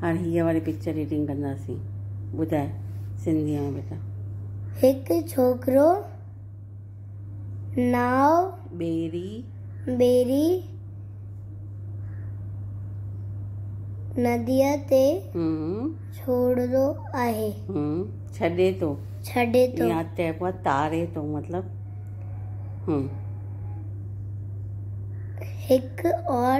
هاڻ هيء واري پڪچر ريڊنگ ڪنداسين ٻڌاء سنڌيء ۾ بيٽا. هڪ ڇوڪرو ناء ٻيري ٻيري نديء تي ڇوڙندو آهي. ڇڏي ٿو. ڇڏي ٿو. يا چئبو آهي تاري ٿو مطلب هڪ اور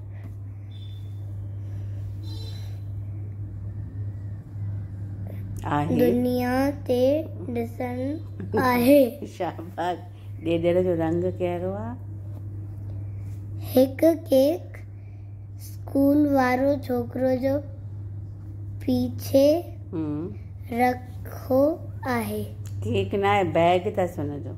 دنيا تي ڏسڻ آهي. شاباس ڏيڏر جو رنگ ڪهڙو آ. هڪ ڪيڪ اسڪول وارو ڇوڪرو جو پيڇي رکو آهي. ڪيڪ ناهي بيگ اٿس ان جو.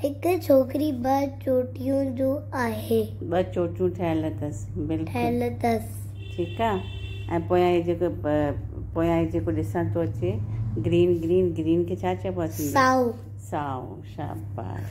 هڪ ڇوڪري ٻه چوٽيون جو آهي. ٻه چوٽيون ٺهيل اٿس. ٺهيل اٿس. ٺيڪ آ ۽ پويان هي جيڪو پويان هي جيڪو ڏسڻ ٿو اچي گرين گرين گرين کي ڇا چئبو آ سنڌي سائو سائو شاباش.